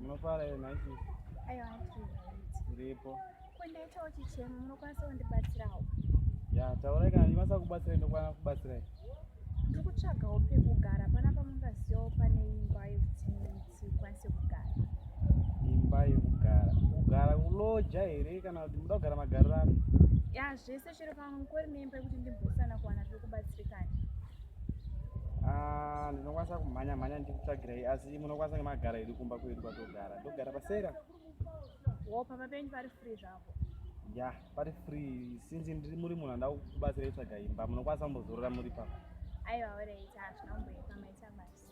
Munofara here nhai sisi? Aiwa tiri right. Uripo. Ko ndaitawo chichemo munokwanisa kundibatsirawo? Ya taurai kana ndikwanisa kubatsirai ndokwanisa kubatsirai. Ndiri kutsvagawo pekugara panapa mungazivawo pane imba yekuti tikwanise kugara imba yekugara kugara kuloja here kana kuti muda kugara magariro ano ya zvese chero pamwe mukori neimba yekuti ndimbosana kuwana zvekubatsirikana ah, ndinokwanisa kumhanya mhanya ndikutsvagirai asi munokwanisa nemagara edu kumba kwedu kwatogara ndogara pasera wo pamba penyu pari free zvavo ya pari free since ndiri muri munhu andaa kubatsira itsvaga imba munokwanisa kumbozorora muri papa aiwa oreit hazvina kumboipa maita basi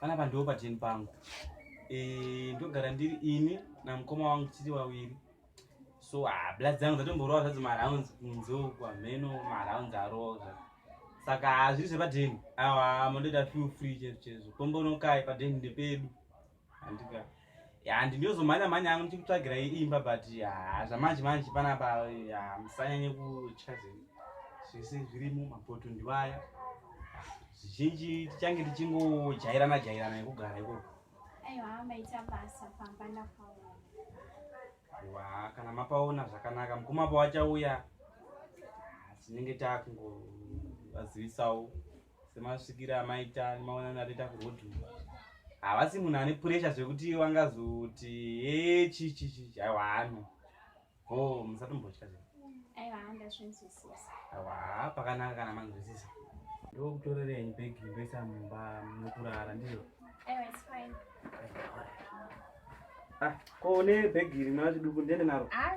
panapa ndiwo pajeni pangu eh, ndogara ndiri ini namukoma wangu tiri waviri so ah, bla dzangu dzatomborowa zvadzo marounds kunze uku hameno marounds arowa zvadzo saka hazviri ah, zvepajeni awa mondoita few free chezvo chezvo kombonokai pajeni ndepedu handika handi ndiyozomhanya mhanya hangu ndichikutsvagira imba but haa zvamanje manje panapa musanyanye kutya zvinhu zvese zviri mumapoto ndivaya zvizhinji tichange tichingojairana jairana yekugara ikoko wa kana mapaona zvakanaka mukoma pawachauya tinenge takungovazivisawo semasvikiro amaita maona natoita kuroad havasi munhu ane puresha zvekuti wangazoti e chichichichi aiwa hano o musatombotya zve aiwa pakanaka kana manzwisisa ndokutorerenyi bhegi ndoisa mumba mukurara ndizvo ah, ko une bhegi rinoa chiduku ndiende naro ah,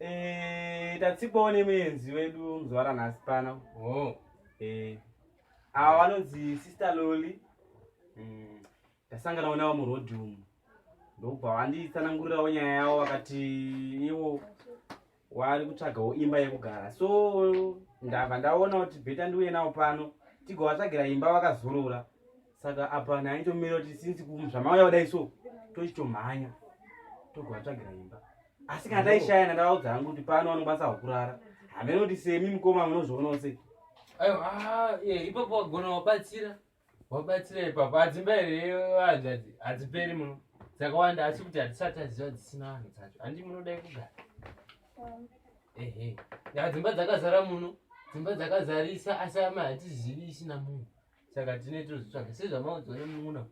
Eh, tatsipawo nemuenzi wedu muzvara nhasi pano oh. eh, ava vanonzi sister loli mm, tasangana mm, onavo murodhi umu ndokubva vanditsanangurirawo nyaya yavo vakati ivo wari kutsvagawo imba yekugara so ndabva ndaona kuti bheta ndiuye navo pano tigovatsvagira imba vakazorora saka apa naitomira kuti since zvamauya kudai so tochitomhanya togovatsvagira imba asi kana taishaya nandavaudza hangu kuti pano vanokwanisa kukurara hamene kuti semi mukoma munozvionawo se ah, ipapo wagona wabatsira wabatsira ipapo adzimba here hanzvadzi hadziperi muno dzakawanda asi kuti hatisati aziva dzisina vanhu dzacho handi munodai kugara mm. ehe dzimba dzakazara muno dzimba dzakazarisa asi ama hatizivisi namunhu saka tine tozvitsvaga sezvamaudzwa nemunun'una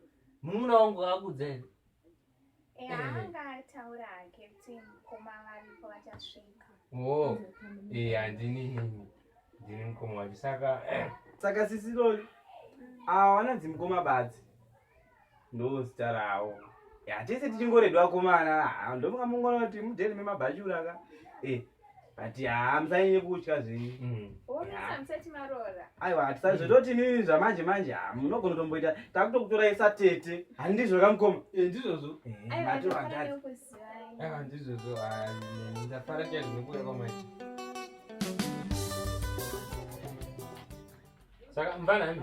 munun'una wangu akudza here eh, eh. anga ataura hake kuti mukoma varipo vachasvika o oh. e eh, handini nini ndini mukoma wacho saka saka sisi loli mm. awana dzimukoma badzi ndozita rawo hatese tichingoredi vakomana ah, ndomuka mungonoti mudheni memabhachura ka eh, but haa musanyanye kutya zvenyu mm. aiwa hatisazvitoti nini zvamanje manje ha ah, munogona tomboita takutokutorai satete handizvo kamukoma eh, ndizvozvo eh, ndizvozvo ah, ndafara chaizvo nekuuya kwamaiti saka mvana hami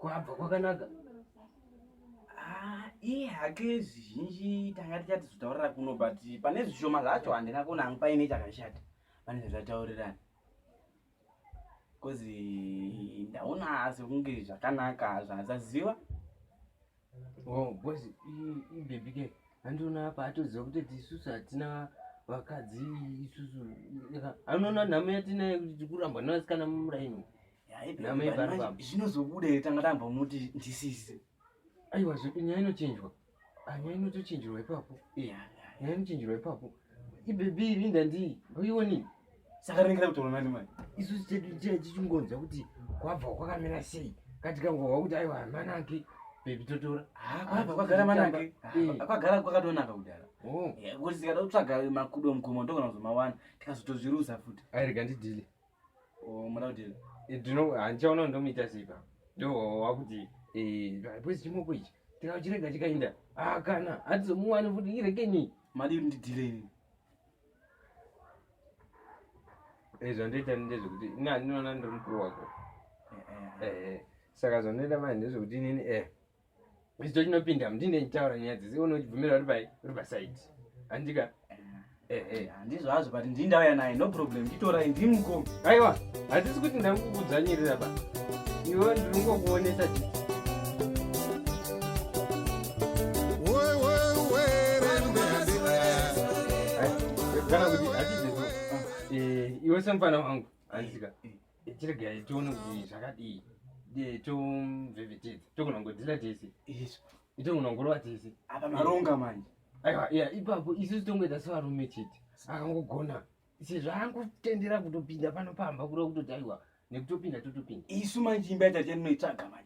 kwabva kwakanaka iye hake zvizhinji tanga tichati zvitaurira kuno but pane zvishoma zvacho handina kuona hangu paine chakashata pane zvataurirana bcause ndaona asi kunge zvakanaka zvasaziva oh, bcause ibebi ke handiona apa atoziva kuti tisusu hatina vakadzi isusu anoona nhamo yatinayo kuti tikurambwa nevasikana mumuraini zvinozobuda here tanga tambomuti ndisizi aiwa zvedu nyaya inochinjwa ah, nyaya inotochinjirwa ipapo nyaya inochinjirwa ipapo ibebi iri ndandii uioni saka ringira kutaura nani mani isusu chedu chee chichingonzwa kuti kwabva kwakamira sei katikangohwa kuti aiwa amana ake bebi totora kwabva kwagara mana ake kwagara kwakatonaka kudhara oh. kuti tikada kutsvaga makudo mugomo ndokona kuzomawana tikazotozviruza futi airega ndidhile Oh, mwana kuti eh, ndino handichaona ndomuita sipa ndo wakuti eh, bwezi chimoko ichi tikachirega chikainda ah, kana hatizomuwani futi irekeni madi ndidhire ini Eh, zvandoita ndezvekuti ini handinoona ndiri mukuru wako Eh, eh. Eh, eh. saka zvandoita manje ndezvekuti inini eh icho chinopinda mundine ndichitaura nyaya dzese one uchibvumira uri pai uri pasaidi handika eh, eh. handizvo hazvo but ndii ndauya naye no problem nditorai ndii mukomi aiwa hatisi kuti ndakukudzvanyirira ba iwe ndiri kungokuonesa chii kana kuti hatizvo eh, iwe semufana wangu handika tiregai tione kuti zvakadii tomvevetedza tokunongodzira tese tokunongorova tese apa maronga manje aiwa ya ipapo isusu tongoita sevarume chete akangogona sezvaangotendera kutopinda pano pamba kuda kutoti aiwa nekutopinda totopinda isu manje imba yatatinoitsvaga manje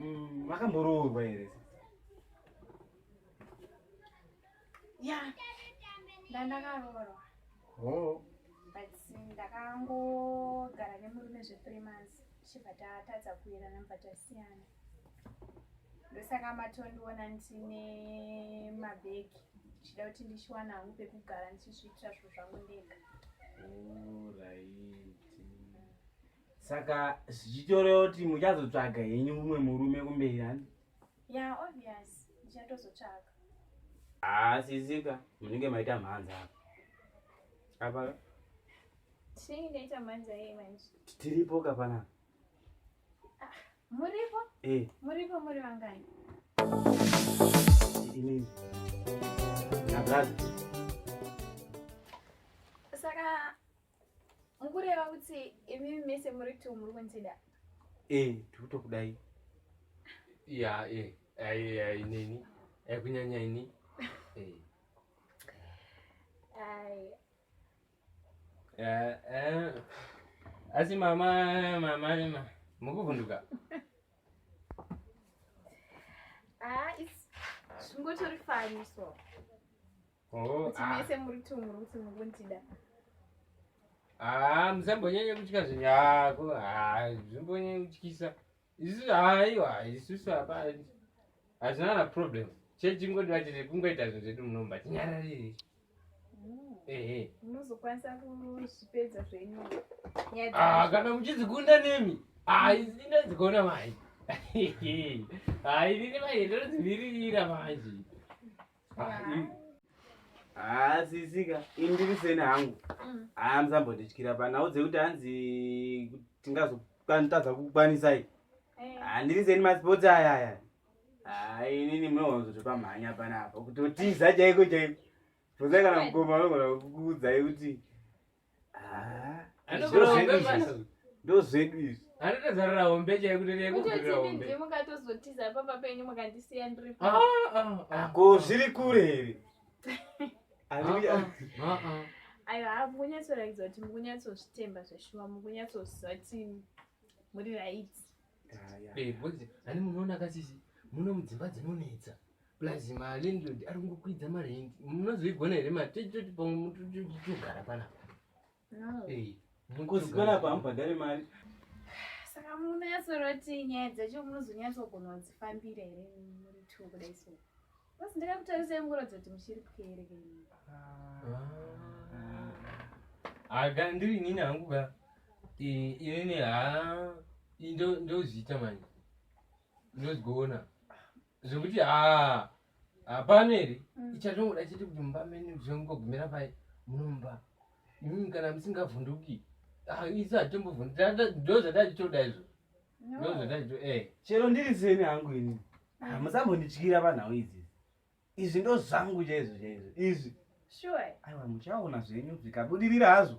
Mm, vakamboroorwa here ya ndandakaroorwa oh. but ndakangogara nemurume zve three months tichibva tatadza kuirana mubva tasiyana ndosaka matondiona ndine mabhegi ndichida kuti ndichiwana hangu pekugara ndichizviitira zvinhu zvangu ndega saka zvichitoreva kuti muchazotsvaga henyu mumwe murume kumberi handi ya obvious ndichatozotsvaga haasizika ah, munenge maita mhanza apa apa tinenge taita mhanza yei manje tiripo kapanapa Muripo? Eh. Muripo muri vangani? Ini. Nabrad. Saka mukureva kuti imi mese muri two muri kuntida? Eh, tikutokudai. Ya, eh. Ai, ai, nini. Ai kunyanya ini. Eh. Ai. Eh, eh. asi mama mama ma mukuvhunduka ah, zvingotori fani so oh, kuti ah. mese muri two muri kuti mukundida haa ah, musambonyanye kutya zvinhu yako haa zvimbonyanye kutyisa isu haiwa isusu apa hazvina na problem chechi ingodiwa chete kungoita zvinhu zvedu munomba tinyararire mm. ehe munozokwanisa kuzvipedza zvenyu ah, kana muchizikunda nemi haizindazigona ah, mai hainini ah, mai ndozvimirira manje haasisika ah, ini ndiri seni hangu mm. haa musambotityira panhau dzekuti hanzi tingazotadza kukwanisai eh. handiri ah, seni masports aya aya haa ah, inini munowanzotopamhanya panapa kutotiza chaiko chaiko pozai kana mukoma anogona kukuudzai kuti ndozvedu izvi anotozarira hombe chaiye kuti rekutozotiza pamba penyu mukandisiya ndiripo ah, ah, ah. ko zviri kure here ayo haa mukunyatsorakidza kuti mukunyatsozvitemba zveshuwa mukunyatsoziva kuti muri raiti ani munoona kasisi muno mudzimba dzinonetsa plus malindlord ari kungokwidza marendi munozoigona here matitoti pamwe mutogara panapa mukozi panapa hamubhadhare mari saka munatsoroti nyaya dzacho munozonyatsogona kudzifambira here muri two kudai so basi ndakakutarisai mukuratidza kuti muchiri pwere kei aga ah. ndiri nini hangu ka inini ha ndozviita manje ndozigoona zvekuti haa hapano here mm. ichatongoda chete kuti mumba mene zvengogumira pai munomba imimi kana musingavhunduki ah, isu hatimbovhunduka ndo zvatachitoda izvo ndo zvatachito e eh. chero ndiri seni hangu ini mm. ah, musambondityira panhau idzi izvi ndo zvangu chaizvo chaizvo izvi aiwa muchaona zvenyu zvikabudirira hazvo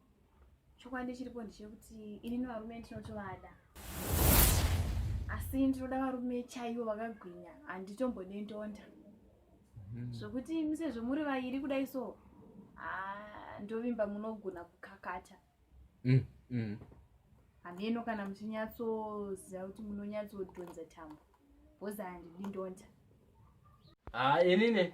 chokwadi chiripo ndechekuti ini nevarume ndinotovada asi ndinoda varume chaivo vakagwinya handitombode ndonda mhm. zvokuti mm -hmm. sezvo muri vairi kudai so ah, ndovimba munogona kukakata mm -hmm. hameno kana muchinyatsoziva kuti munonyatsodhonza tambo bhozi handidi ndonda ah, inini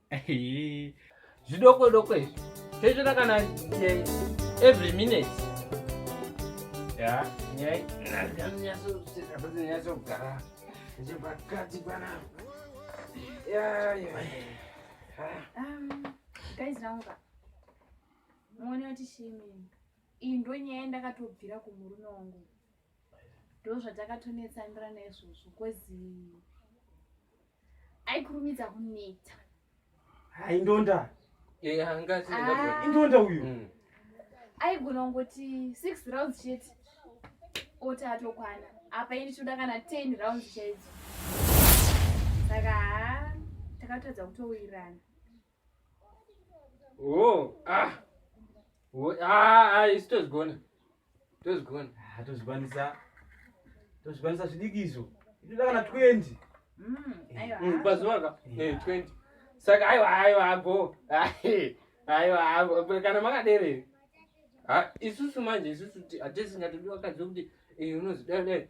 zvidoko doko izvi toitota kana eh, every minute ya nyaya nyatsogara chepakati panapa kaizirauka muone kuti shimini iyi ndonyaya ndakatobvira kumurume wangu ndozvatakatonetsanira naizvozvo kozi aikurumidza kuneta hai ndonda ah. ndonda uyu mm. aigona kungoti six rounds chete oti atokwana apa ini choda kana ten rounds chaidzo saka ha takatadza kutowirirana Oh, ah. Oh, ah, ah, isu tozvigona. Tozvigona. Ah, tozvikwanisa. Tozvikwanisa zvidiki izvo. Itoda kana 20. Mm, aiwa. Mm, pazuva ka? Yeah. Eh, 20. Saka aiwa aiwa ago. Ah, eh, aiwa ago. Kana makadere. Ah, isusu manje isusu hatisi ngatodiwa kadzo kuti eh unozidai dai.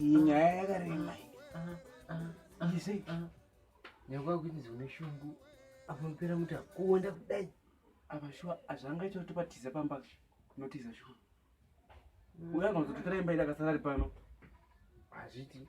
iyi nyaya yakarema ise nyakwakuinzi une shungu apanopera muti akuonda kudai apa shuwa azvanga icho topatiza pamba notiza shuwa uya anozototora imba ida kasarari pano hazviti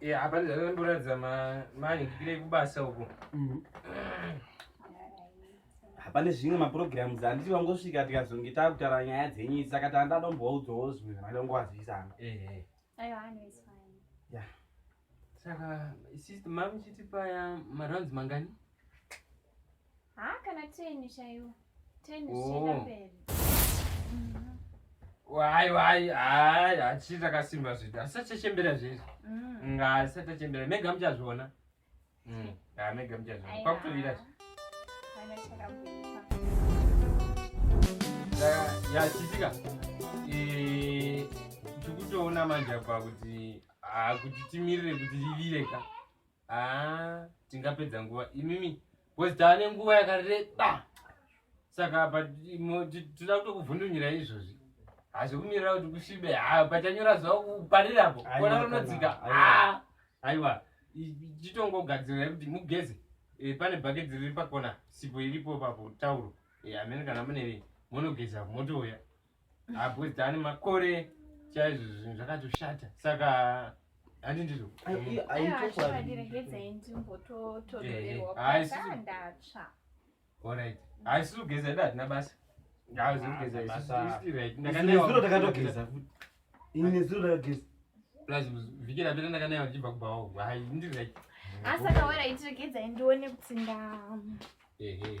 Yeah, apa ndakatoratidza mani ndipire kubasa uko. Mhm. Hapana zvimwe maprograms anditi vangosvika tikazonge takutaura nyaya dzenyu idzi saka tanga tadomboudzawo zvimwe zvavada kungovazivisana. Ehe. Ayo hano is fine. Yeah. Saka sister mami chiti paya marounds mangani? Haa kana 10 chaiwo. 10 zvichienda oh. mberi. Wai wai hai hatisi takasimba zvedu asi tachembera zvedu mm. nga asi tachembera mega muchazviona mm. ha mega muchazviona kwakutovira zve yachitika e, tikutoona manje apa kuti kuti timirire kuti rivire ka haa tingapedza nguva imimi bcause tava nenguva yakareba saka but toda kutokuvhundunyira izvozvi hazvikumirira kuti kusvibe ha pachanyora zuva kuparirapo kona rinodzika ha aiwa chitongogadzira kuti mugeze eh, pane bhaketi riri pakona sipo iripo papo tauro eh, amene kana mune monogeza motouya abhuzdani makore chaizvo zvinhu zvakatoshata saka handi ndizvo haisi kugeza ida hatina basa vhiki rapera ndakanaiwa ndichibva kubhawa hai ndiri like asaka wera itiregedzai ndione kuti nda ehe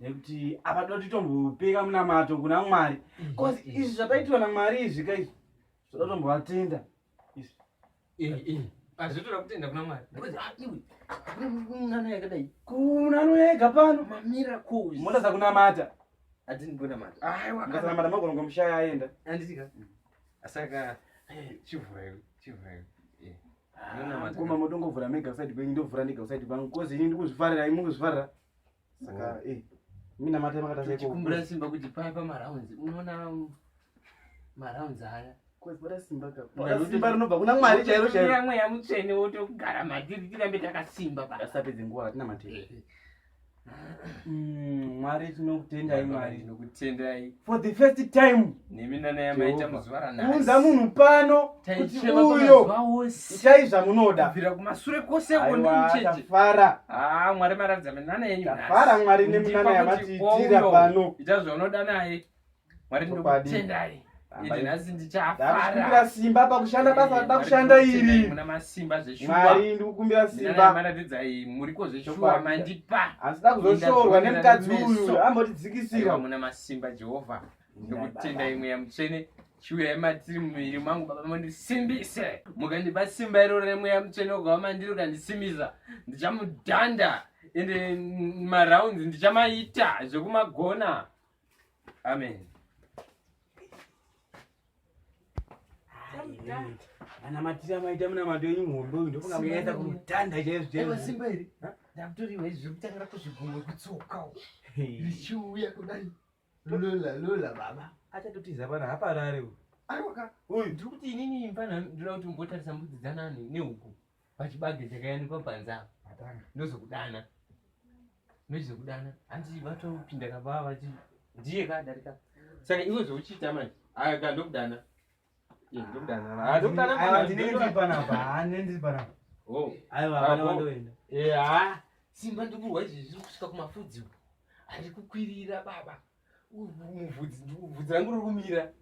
nekuti apa toti tombopeka munamato kuna mwari bcause mm-hmm. izvi zvataitwa namwari izvi ka izvi zvoda tombovatenda izvi eh, eh. azvitoda kutenda kuna mwari kunanoyakadai ah, kunanoyega pano mamira koi moda dzakunamata adini kunamata aiwakanamata magonongo mushaya aenda anditika mm. asaka eh, chivhurayo chivhurayo ah, koma motongovhura mega usaidi kwenyu ndovhura ndega usaidi pangu kozi ini ndikuzvifarira imukuzvifarira saka oh. eh mina matema kata seko kumbura simba kuti paya pa marounds unoona marounds haya kwezvara simba ka simba rinobva kuna mwari chairo chairo kuna mweya mutsvene wotogara madiri tirambe takasimba pa asapedze nguva atina matema eh, eh. mm, mwari tinokutendai mwari tinokutendai for the first time nemi nanaya maita muzuva ranaunza munhu pano kuti uyo itai zvamunoda bvira kumasure kwose kondimchejefara haa ah, mwari maratidza minana yenyu tafara mwari neminana yamatiitira pano ita zvaunoda naye mwari ndokutendai ndikumbira simba pakushanda basa rida kushanda iri mari ndikukumbira simbaasida kuzoshorwa nemukadzi uyu ambotidzikisirwa ndokutenda imwe yamutsvene chiuya imatiri mumuviri mangu baba mandisimbise mukandipa simba iroro remweya mutsvene ukava mandiri ukandisimbisa ndichamudhanda ende marounds ndichamaita zvekumagona amen ana matiri amaita munamato yenyu muhombe uyu ndofunga muyaita kumudhanda chaizvo chaizvosimba iri ndakutoriwa izvi zvekutangira kuzvigumwe kutsoka richiuya kudai lula lula baba achatotiza pana haparare uyu aiwaka uyu ndiri kuti inini mfana ndinoda kuti mbotarisa mbudzi dzanani nehuku pachibage chakayanikwa panze apa atanga ndozokudana ndozokudana hanzi vatopinda kabaa vati ndiye kadarika saka iwe zvauchiita manje aya ka ndokudana simba ndikurwa izvi zviri kusvika kumafudzi uku ari kukwirira baba muvhudzi rangu riri kumira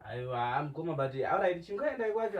aiwa mukoma but auraiti chingaendai kwacho